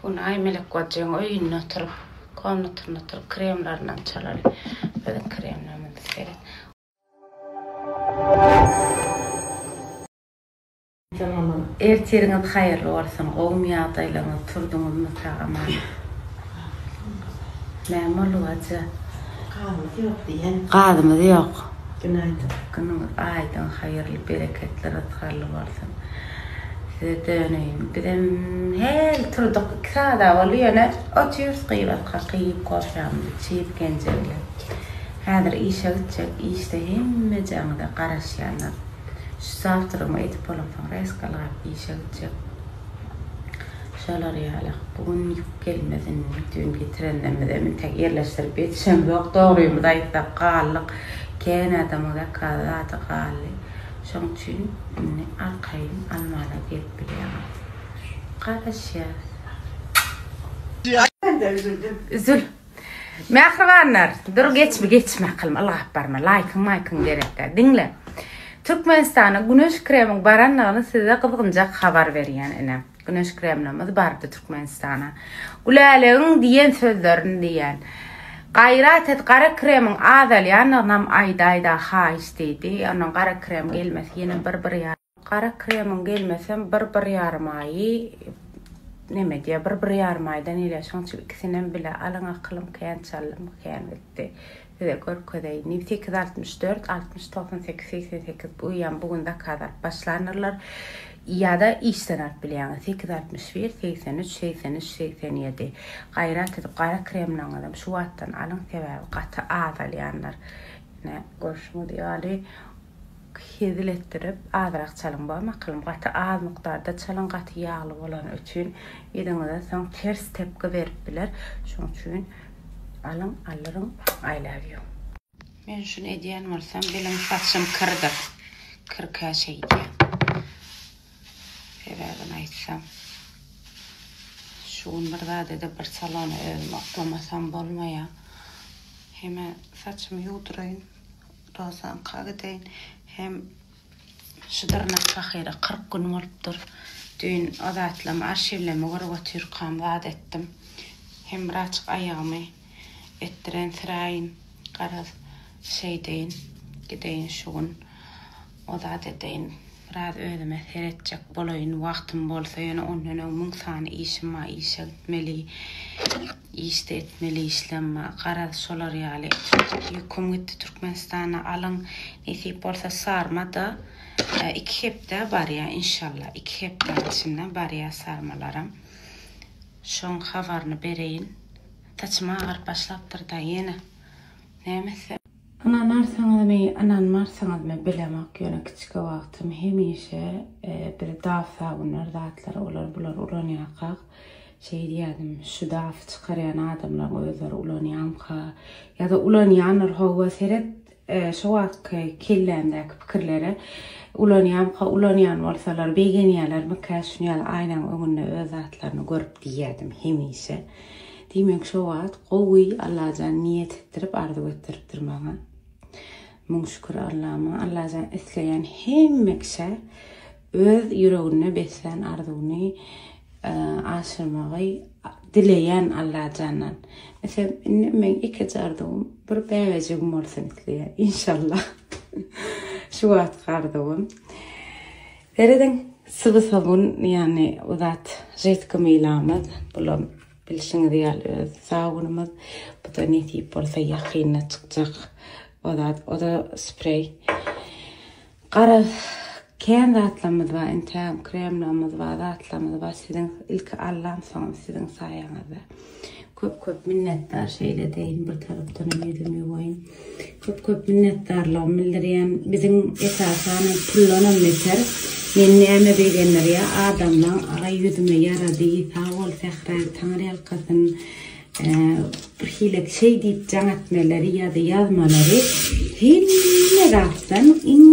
Hunaý Melek bajyň öýünde oturyp, komnatynda oturyp kremlerini çalar. Biziň kremlerimizi seret. Ertiriňiz haýyrly bolsun, gowumy ýagdaýlaryňyz, turduňyzmy sag-aman? Näme boldy bajy? Gazymyz ýok diýen. Gazymyz ýok. Günaýdyn. Günüňiz aýdyň, haýyrly, bereketli, rysgarly bolsun. Size döneýin. Bizem hel turdyk. Iki sada boldy ýöne otyrys gybat kak iýip kofýamyzy çyýyp Genje bilen. Häzir işe gitjek. Işde hemmejaňyza garaşýanlar. Şu zawtramyň edip bolansoň reskalgap işe gitjek. Şolar ýaly. Bu gün ýük gelmez indi. Düýn getirenlermizem intek ýerleşdirip ýetişemzok. Dogrymyzy aýtsak, galdyk. Kän adamyň zakaz zady galdy. Şoň üçin indi arkaýyn almana gelip bilýäňiz. Garaşýas. Üzül. Mähribanlar dur geçmi geçme akylymy ylgap barma laýkyň maýkyň gerekdä diňle Türkmenistana güneş kremiň baranyny size gyzgynjak habar berýän ine güneş kremlimiz bardy Türkmenistana Gülälegen diýen sözlerini diýen gaýrat et gara kremiň azalýanynam aýdaýda haýyş diýdi ondan gara krem gelmesi ýene bir bir ýa. Gara kremiň gelmesem bir bir ýarym aýy neme diýýär bir bir ýarym aýdan elýär şoň üçin ikisinem bile alyň akylym kän çallym kän gitdi size görkezeýin diýip sekiz altmyş dört altmyş togsan sekiz segsen sekiz guýýan bu gün zakaz alyp başlanyrlar ýada işden alyp bilýäňiz sekiz altmyş bir segsen üç segsen üç segsen ýedi gaýrat edip gara kremleriňizem şu wagtdan alyň sebäbi gaty azalýanlar ine görşüňiz ýaly Hezil etdirip azrak çalyň ba maklym gaty az mukdarda çalyň gaty ýagly bolany üçin yzyňyza soň ters tepgi berip biler şoň üçin alyň allyryň I love you. Men şuny edýän bolsam bilim saçym kyrdyr kyrka şeýdýä sebäbini aýtsam şu gün bir zadede bir salona özümi oklamasam bolmaýa heme saçymy ýuwduraýyn Dogsanka gideýin. Hem şu dyrnak pahyra kyrk gün bolupdyr. Düýn o zatlam arşiwleme görüp otyrkam zat etdim. Hem biraçyk aýagymy etdirensiraýyn. Garaz, şeýdeýin. Gideýin şu gün o zat edeýin. Biraz özüme seretjek bolaýyn. Wagtym bolsa ýöne ondan öň müň sany işim bar. Işe gitmeli. Işde etmeli işlem bar garaz şolar ýaly etmedik ýüküm gitdi Türkmenistana alyň nesip bolsa sarmada iki hepdä barýa inşallah iki hepdäň içinde barýa sarmalaram şoň habaryny bereýin saçym agaryp başlapdyrda ýene näme etsem. Ynanarsyňyzmy ynanmarsyňyzmy bilemok ýöne kiçki wagtym hemişe biz dawsagünler zatlary olar bular ulanýarkak Şeý diýýädim, şu daf çykarýan adamlaryň özleri ulanýamyka? Ýa-da ulanýandyr howwa, seret şo wagtky kellämdäki pikirlere. Ulanýamyka, ulanýan bolsalar begenýälermikä şuny ýaly aýnaň öňünde öz zatlaryny görüp diýýädim hemişe. Diýmek şo wagt gowy Allajan niýet etdirip, arzuw etdiripdir maňa. Müň şükür Allama. Allajan isleýän hemme kişä Öz ýüreginde beslän arzuwyny aşyrmagy dileýän Allajandan. Meselem, indi meň ikiji arzuwym bir bäbejigim bolsun isleýän. Inşallah. Şu wagtky arzuwym. Serediň, syby-sabun, ýagny bu zat ritki mylamyz. Bulam bilşiňiz ýaly öz sabunymyz. Bu-da nesip bolsa ýakynda çykjak. O zat, o-da spreý. Garaz, kän zatlarymyz bar, entägem kremlerimiz bar, zatlarymyz bar, siziň ilki Allam, soňam siziň saýaňyzda. Köp-köp minnetdar, şeýle deýin, bir tarapdanam ýüzümi ýuwaýyn. Köp-köp minnetdarlygymy bildirýän, biziň esasan puldanam beter, meni näme begendirýär, adamlaň agy ýüzüme ýarady, sag bol Sähra, Taňyrýalkasyn. bir hili şeý diýip jaň etmeleri ýa-da ýazmalary hemme zatdan iň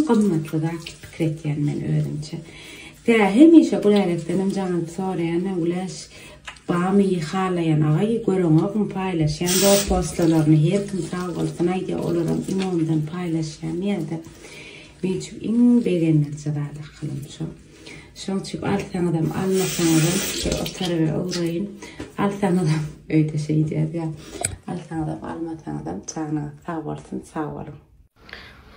gymmatly zat pikir etýän men özümçe. Tä hemişe Gülälekdenem jaň alyp soraýan, Güläş, bamy halaýan agaý, göreňogmy paýlaşýan zor postalaryny, her kim sag bolsun aýdýa, olaram iňondan paýlaşýan ýa-da. Men üçin iň begeniliji zat akylym şo. Şoň üçin alsaňyzam, almasaňyzam, bir o taraba ugraýyn. Alsaňyzam, öýde şeý diýýäs ýa. Alsaňyzam, almasaňyzam, janyňyz sag bolsun, sag boluň.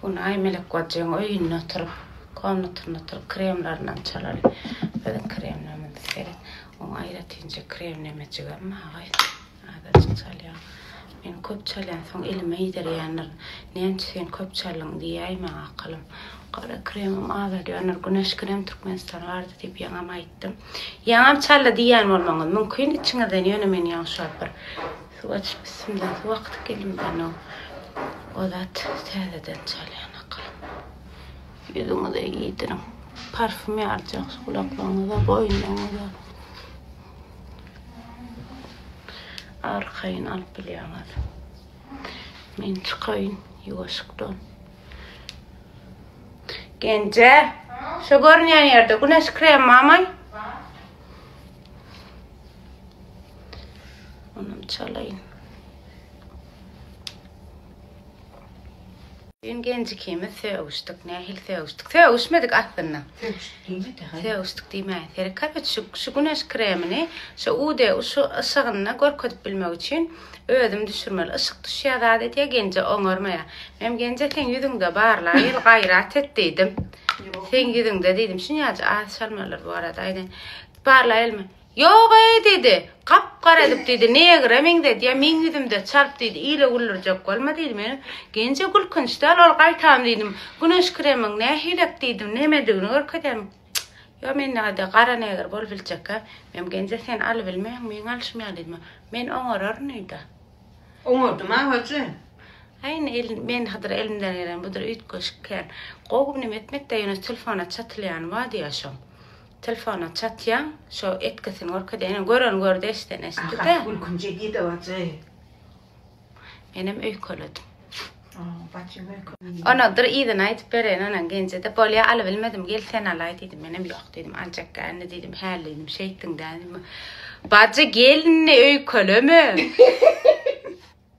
Hunaý Melek bajyň öýünde oturyp, komnatynda oturyp kremlerinden çalaly. Biziň kremlerimizi seret. Oň aýratynja krem nemejigem, aga. Azajyk çalýan. Men köp çalýan, soň elime iýdirýändirin. Näme üçin köp çaldyň diýäý maňa akylym. Gara kremim azaldýandyr. Güneş krem Türkmenistana bardy diýip ýaňam aýtdym. Ýaňam çaldy diýýän bolmaňyz mümkin içiňizden, ýöne men ýaňy şol bir suw açyp üstümden suw akdyp geldim ýöne o zat täzeden çalýan akylym. Ýüzüňize iýdiriň. Parfüm ýarjak gulaklaryňyza, boýnuňyza. Arkaýyn alyp bilýäňiz. Men çykaýyn ýuwaşykdan. Genje, şu görünýän ýerde güneş kremi barmy? Onam çalaýyn. Düýn gelin ikimiz sögüşdik. Nähili sögüşdik? Sögüşmedik aslynda. Sögüşdik diýme-de. Sögüşdik diýme. Seri köpüç şu, şu güneş kremini şu UD şu yşygynda görkezip bilmek üçin özüm düşürmeli. Yşyk düşýär zat edýär, genje oňarmaýar. Men genje sen ýüzüňde barla, ýyl gaýrat et diýdim. Sen ýüzüňde diýdim. Şunýaja az şalmalar bu arada aýdaýyn. Barla elmi? Ýog-eý, diýdi, gap-gara edip, diýdi, negre meňzedýär, meň ýüzümde çarp, diýdi, ile güldürjek bolma, diýdi, men Genje gülkünç däl, ol gaýtam, diýdim, güneş kremyň nähilek, diýdim, nemedigini görkezýämiň? Çyk, ýok, mende-de gara negr bolup biljek-ä, men Genje sen alybilmeýäň, meň alşym ýaly, diýdim, men oňararyn öýde. Oňardy maň hajy. Aý, indi el, men hydyr elimden gelen budur üýtgeşik kän. Gowy, neme etmekde, ýöne telefona çatylýany bar diýýär şoň. Telefona çatýaň şo etgisini görkezýä ine gören gördi eşden eşitdi de. Ahat gülkünje gidip ajy. Menem öýkeledim. Onadyr yzyna aýdyp bereýin onaň genjede bolýa alybilmedim gel sen alaý diýdim menem ýok diýdim aljak gändi diýdim häli diýdim şeýtdiň dä. Bajy gelni öýkeleme.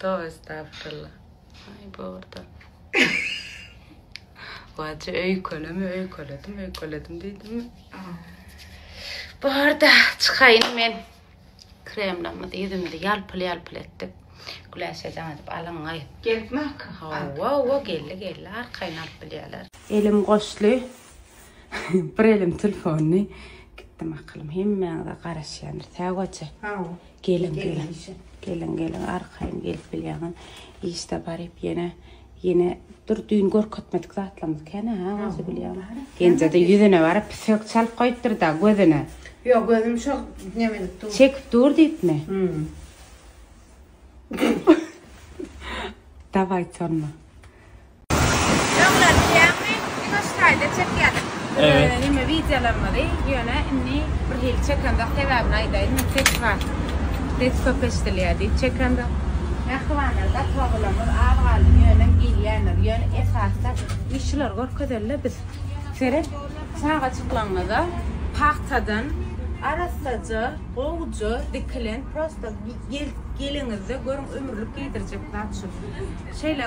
Towy estagfirullah. Aý bu orta. Wajy öýkeleme öýkeledim öýkeledim diýdim. Bu orta çykaýyn men. Kremlamy ýüzümde ýalpyl ýalpyl etdik. Güläşe jaň edip alyň aý. Gelipmi akga? Hawa hawa geldi geldi arkaýyn alyp bilýärler. Elim goşly bir elim telefony gitdim akylym hemmäňize garaşýandyr täwaje. Hawa. Geliň geliň. Geliň geliň arkaýyn gelip bilýäňem. Işde baryp ýene ýene dur düýn görkezmedik zatlarymyz kene ha özü bilýän. Genjede ýüzüne baryp sök çalyp goýupdyr da gözüne. Ýok gözüm şo neme edip dur. Çekip dur diýipmi? Hmm. Dawaý tonma. Öňler bilýäňmi, ýuwaş taýda çekýärdik. Evet. Neme wideolarymyzy, ýöne indi bir hili çekemzok, sebäbini aýdaýyn, ses bar. Ses köp eşidilýär diýip çekemzok. Mähribanlar gaty obalarymyz az galdy, ýöne gelýänler, ýöne esasda biz şulary görkezeli-le biz. Seret, çagajyklaryňyza pagtadan arassaja, gowja dikilen prosta gel geliňizde görüň ömürlik geýdirjek zat şu. Şeýle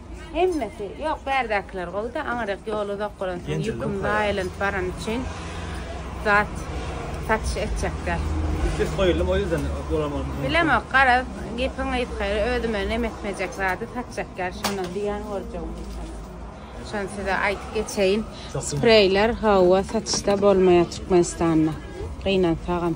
Hemmesi, ýok bärdäkiler gowy-da, aňryk ýol uzak bolansoň ýüküm zaýa aýlanyp barany üçin zat satyş etjek däl. Üstüs goýuldym, o ýüzden bolar bolsa. Bilemok, garaz, gepiň gysgary, özüme nem etmejek zady satjak däl, şondan zyýan görjegim ýokdur. Şony size aýdyp geçeýin. Spreýler, hawa, satyşda bolmaýar Türkmenistanda. Gynansagam.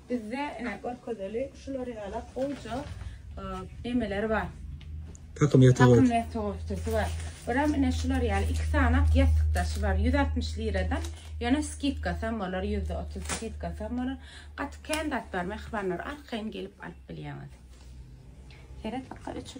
Bizde ine görkezeli şular ýaly goýja emeler bar. Takym ýatak otag. Takym ýatak otag bar. Biram ine şular ýaly iki sany ýatak daşy bar. 160 liradan ýöne skidka sam bolar 130 skidka sam bolar. Gaty kän zat bar mehribanlar arkaýyn gelip alyp bilýäňiz. Seret bakalım üçin.